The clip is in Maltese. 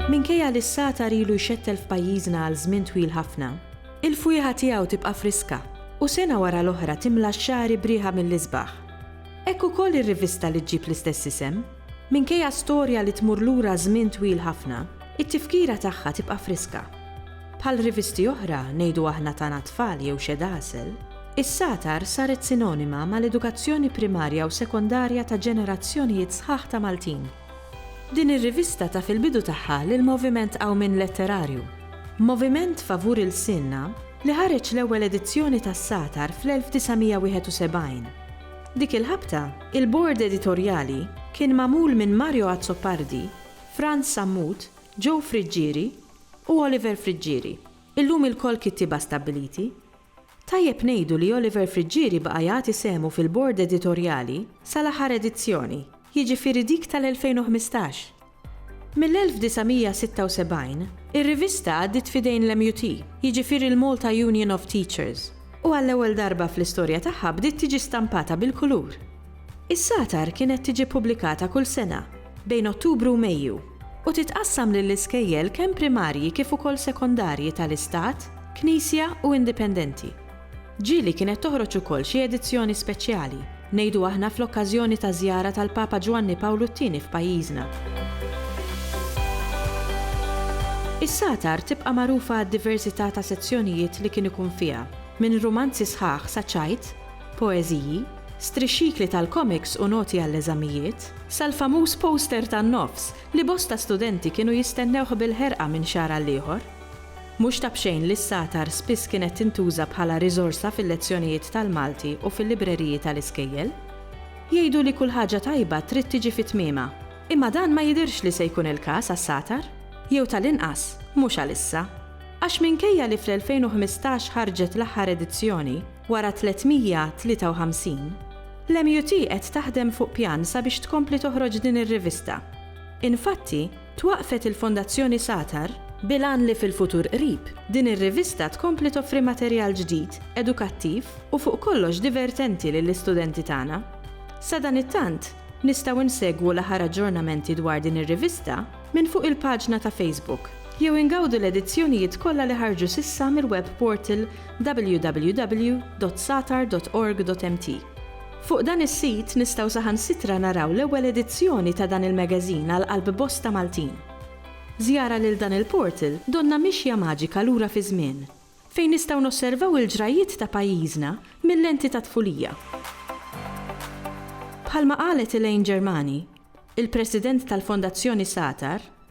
Minkejja li s-satar ilu jxettel f'pajjiżna għal żmien twil ħafna, il-fwieħa tiegħu tibqa' friska u sena wara l-oħra timla x-xagħri b'riħa mill-isbaħ. Hekk ukoll ir-rivista li ġġib l-istess isem, Minkejja storja li tmur lura żmien twil ħafna, it-tifkira tagħha tibqa' friska. Bħal rivisti oħra, ngħidu aħna ta' na tfal jew xed għasel, is-Satar saret sinonima mal-edukazzjoni primarja u sekondarja ta' ġenerazzjonijiet sħaħ ta' Maltin. Din ir-rivista taf il-bidu tagħha lil moviment qawmien letterarju, Moviment Favur Ilsienna li ħareġ l-ewwel edizzjoni tas-Satar fl-1971, Dik il-ħabta, il-Bord Editorjali kien magħmul minn Mario Azzopardi, Frans Sammut, Joe Friggieri u Oliver Friggieri, illum ilkoll kittieba stabbiliti. Tajjeb ngħidu li Oliver Friggieri baqa' jagħti sehmu fil-Bord Editorjali sal-aħħar edizzjoni, jiġifieri dik tal-2015. Mill-1976, ir-rivista għaddiet f'idejn l-MUT, jiġifieri l-Malta Union of Teachers, u għall-ewwel darba fl-istorja tagħha bdiet tiġi stampata bil-kulur. Is-Satar kienet tiġi ppubblikata kull sena, bejn Ottubru u Mejju, u titqassam lill-iskejjel kemm primarji kif ukoll sekondarji tal-Istat, Knisja u Indipendenti. Ġieli kienet toħroġ ukoll xi edizzjoni speċjali, ngħidu aħna fl-okkażjoni taż-żjara tal-Papa Ġwanni Pawlu t-Tieni f'pajjiżna. Is-Satar tibqa' magħrufa għad-diversità ta' sezzjonijiet li kien ikun fiha, minn rumanzi sħaħ sa ċajt, poeżiji, strixxikli tal-komiks u noti għall-eżamijiet, sal-famuż poster tan-nofs li bosta studenti kienu jistennewh bil-ħerqa minn xahar għal ieħor. Mhux ta' b'xejn li s-satar spiss kienet tintuża bħala riżorsa fil-lezzjonijiet tal-Malti u fil-libreriji tal-iskejjel. Jgħidu li kull ħaġa tajba trid tiġi fi tmiemha, imma dan ma jidhirx li se jkun il-każ għas-satar, jew tal-inqas mhux għalissa. Għax minkejja li fl-2015 ħarġet l-aħħar edizzjoni, wara 353, l-MUT qed taħdem fuq pjan sabiex tkompli toħroġ din ir-rivista. Infatti, Twaqqfet il-Fondazzjoni Satar bil-għan li fil-futur qrib, din ir-rivista tkompli toffri materjal ġdid, edukattiv u fuq kollox divertenti lill-istudenti tagħna. Sadanittant, nistgħu nsegwu l-aħħar aġġornamenti dwar din ir-rivista minn fuq il-paġna ta' Facebook jew ingawdu l-edizzjonijiet kollha li ħarġu s'issa mill-web portal www.satar.org.mt. Fuq dan is-sit nistgħu saħansitra naraw l-ewwel edizzjoni ta' dan il-magazine għal qalb bosta Maltin. B'żjara lil dan il-portal donnha mixja maġika lura fiż-żmien, fejn nistgħu nosservaw il-ġrajjiet ta' pajjiżna mil-lenti tat-tfulija. Bħalma qalet Elaine Germani, il-President tal-Fondazzjoni Satar,